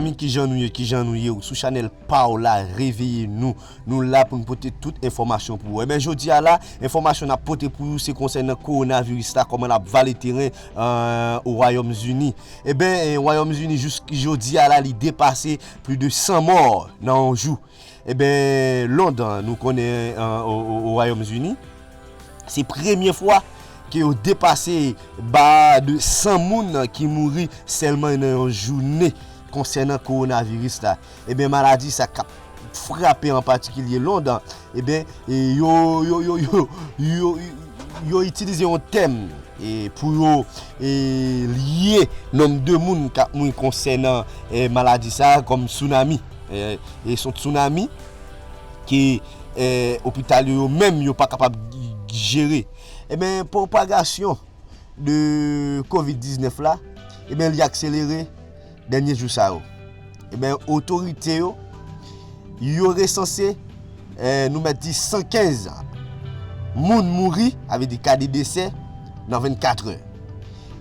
Zanmi kijan nou ye kijan nou ye ou sou chanel paw la reveye nou nou la poun pote tout enfòmasyon pou ou enben jodia la enfòmasyon nap pote pou ou se konsènan korona viris la kòman lap vale teren o wayòm zini enben wayòm zini jouski jodia la li depase pli de 100 mò nan yon jou Eben Londan nou konnen o Wayom Zini, se premye fwa ke yo depase ba de 100 moun ki mouri selman nan yon joune konsenan kowonaviris la. Eben maladi sa kap frape an patikilye Londan, eben yo itilize yon tèm pou yo lye nom de moun kap mouri konsenan maladi sa kom tsunami. E son tsunami ke opital yo yo menm yo pa kapab jere. E ben propagasyon de covid 19 la, e ben li akselere dènye jou sa yo. E ben otorite yo, yo resanse nou mèt di 115 moun mouri, avè di kade desè nan 24 è.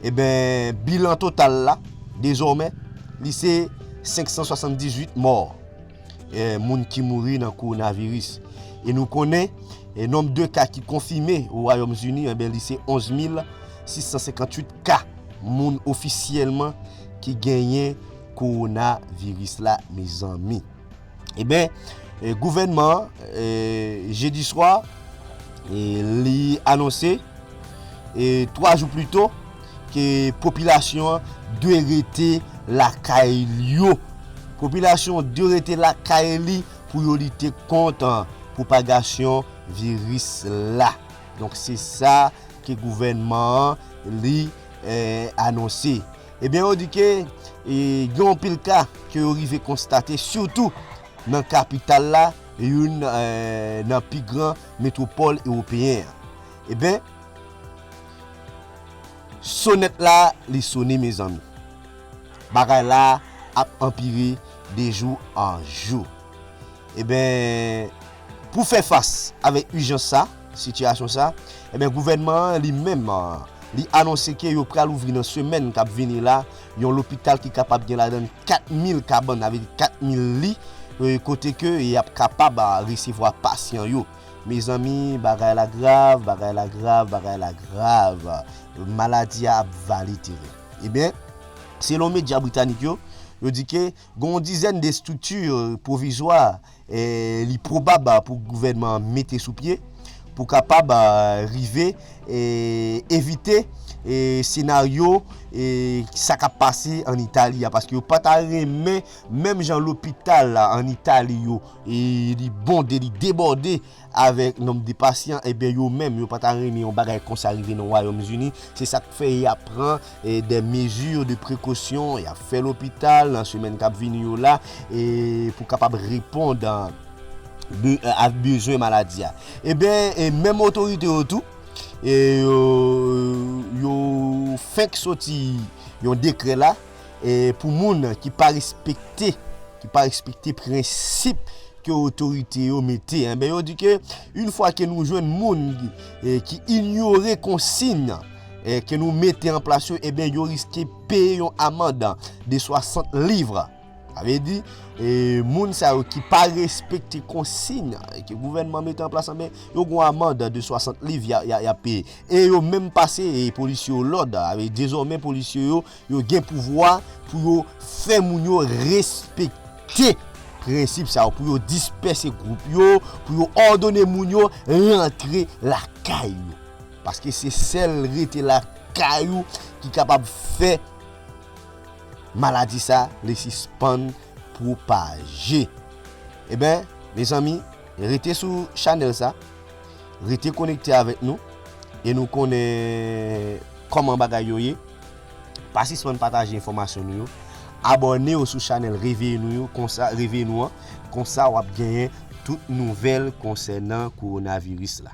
E ben bilan total la, dezòmè, li se. 578 mò moun ki mouri nan kowonaviris. E nou konnen nonb de ka ki konfime o Wayòm Zini anben li se 11 mil 658 ka moun ofisyèlman ki genyen kowonaviris la mezanmi. Eben gouvènman an jedi swa li anonse 3 jou plito. ke popilasyon an dwe rete lakay li yo. Popilasyon an dwe rete lakay li pou yo lite kont pwopagasyon viris la. Donk se sa ke gouvènman an li anonse. Ebyen yo di ke gen yon pil ka ke yo rive konstate sitou nan kapital la, youn nan pi gran metwopòl ewopeyen an. Ebyen. Sonèt la li sone mezanmi. Bagay la ap anpire de jou an jou. Eben pou fè fas avèk ijans sa, sitiyasyon sa, eben gouvènman an li menm li anonse ke yo pral ouvri nan semèn kap vini la yon lopital ki kapab gen ladan l 4 mil kabann sa vle di 4 mil li kote ke yap kapab resevwa pasyan yo. Mezanmi bagay la grav bagay la grav bagay la grav maladi a ap vale teren. Ebyen selon medya britanik yo, yo di ke gen yon dizèn de estrikti pwovizwa li pwobab pou gouvènman an mete sou pye pou kapab rive evite senaryo sa k ap pase an Itali a paske yo pa ta renmen menm jan lopital an Itali yo E li bonde, li debòde avèk nonm de pasyan, e byen yo menm yo pa ta renmen yon bagay konsa rive nan Wayòm Zini. Se sa k fè y ap pran dè mezi de prekosyon, y ap fè lopital nan semèn k ap vini yo la pou kapab repond a bezwen maladi a. E byen menm otorite yo tou, yo fenk soti yon dekrè la, pou moun ki pa respekte ki pa respekte prensip ke otorite yo mete enben yo di ke yn fwa ke nou jwenn moun ki inyore konsign ke nou mete an plas yo enben yo riske peye yon amand de 60 livre sa vle di moun sa yo ki pa respekte konsign ke gouvènman mete an plas enben yo gon amand de 60 livre ya peye e yo menm pase polisye yo lòd dezòmen polisye yo Yo gen pouvwa pou yo fè moun yo respekte prensip sa yo, pou yo dispèse gwoup yo, pou yo òdone moun yo rantre lakay yo. Paske se sèl rete lakay ou ki kapab fè maladi sa li sispann pwopaje. Eben, mezanmi. Rete sou chanèl sa, rete konekte avèk nou e nou konnen kòman bagay yo ye, pa sispann pataje enfòmasyon nou yo, abòne w sou chanèl Reveye nou yo konsa Reveye nou an konsa wap genyen tout nouvèl konsènan kowonaviris la.